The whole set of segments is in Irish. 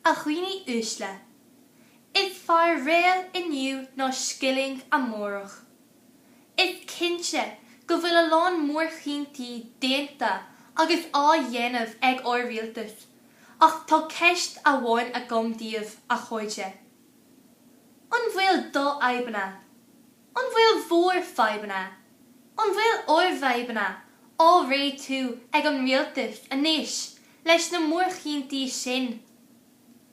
A dhaoine uaisle. Is fearr réal inniu ná scilling amárach. Is cinnte go bhfuil a lán mórchinntí déanta agus á dhéanamh ag ár rialtas ach tá ceist amháin agam daoibh, a chairde. An bhfuil d'fhadhbanna, an bhfuil bhur fadhbanna, an bhfuil ár bhfadhbanna á réitiú ag an rialtas anois Leis na mórchinntí sin,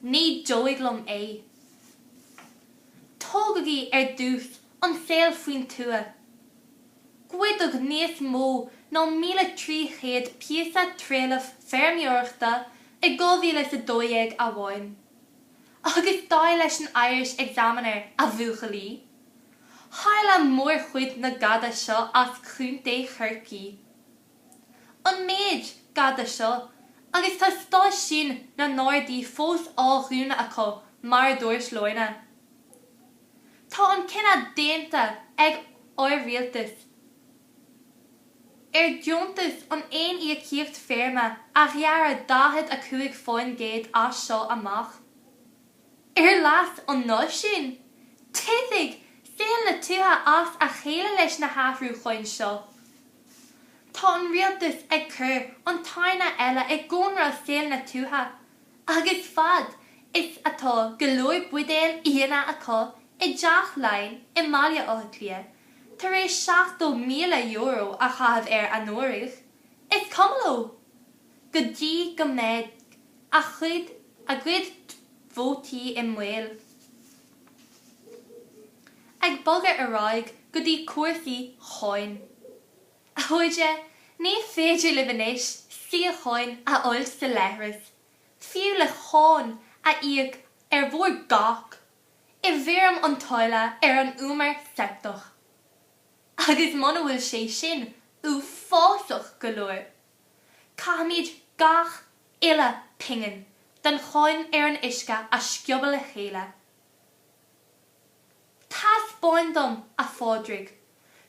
ní dóigh liom é. Tógaigí ar dtús an saol faoin tuath. Goideadh níos mó ná míle trí chéad píosa trealaimh feirmeoireachta i dhá mhíle is a dó dhéag amháin. Agus dar leis an Irish Examiner, a bhuachaillí, tharla mórchuid na gada seo as Contae Chorcaí. an méid gada seo agus tá stáisiúin na nGardaí fós á dhúnadh acu mar a dúirt Lorna. Tá an cinneadh déanta ag ár rialtas ar deontas an aon íocaíocht feirme a ghearradh 45% as seo amach. Ar leas an náisiúin, titfidh saol na tuaithe as a chéile leis na hathrúcháin seo. Tá an rialtas ag cur an tairne eile i gcónra saol na tuaithe, agus fad is atá go leor buidéil fhíona acu i dTeach Laighean i mBaile Átha Cliath tar éis €70,000 a chaitheamh air anuraidh, is cuma leo. go dtí go mbeidh a chuid a gcuid vótaí i mbaol, ag bogadh ar aghaidh go dtí cúrsaí cháin. A chairde, ní féidir libh anois síocháin a fháil sa leithreas, fiú le cáin a íoc ar bhur gcac i bhfoirm an táille ar an umar seipteach. Agus muna bhfuil sé sin uafásach go leor, Caithfimid gach uile pingin den cháin ar an uisce a sciobadh le chéile. Taispeáin dom, a Phádraig,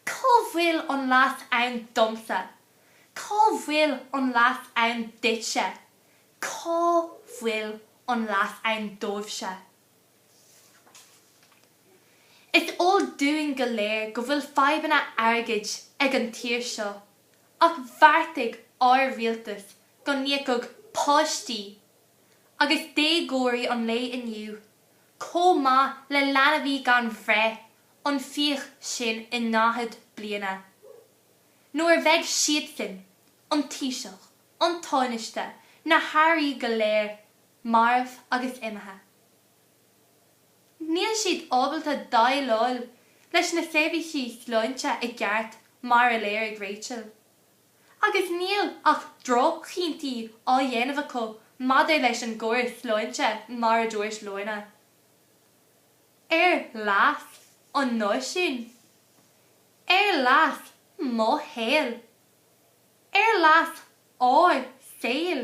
cá bhfuil an leas ann domsa, cá bhfuil an leas ann duitse, cá bhfuil an leas ann daoibhse. Is eol dúinn go léir go bhfuil fadhbanna airgid ag an tír seo. ach bheartaigh ár rialtas go n-íocfadh páistí agus déagóirí an lae inniu, chomh maith le leanbhaí gan bhreith, an fiach sin i ndaichead bliana. Nuair a bheidh siadsan, an Taoiseach, an Tánaiste, na hairí go léir, marbh agus imithe. Níl siad ábalta déileáil leis na seirbhísí sláinte i gceart, mar a léirigh Rachel. Agus níl ach droch-chinntí á dhéanamh acu maidir leis an gcóras sláinte, mar a dúirt Lorna. Ar leas an náisiúin. Ar leas mo shaoil. Ar leas ár saoil.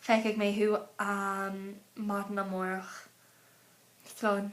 Feicfidh mé thú maidin amárach. Slán.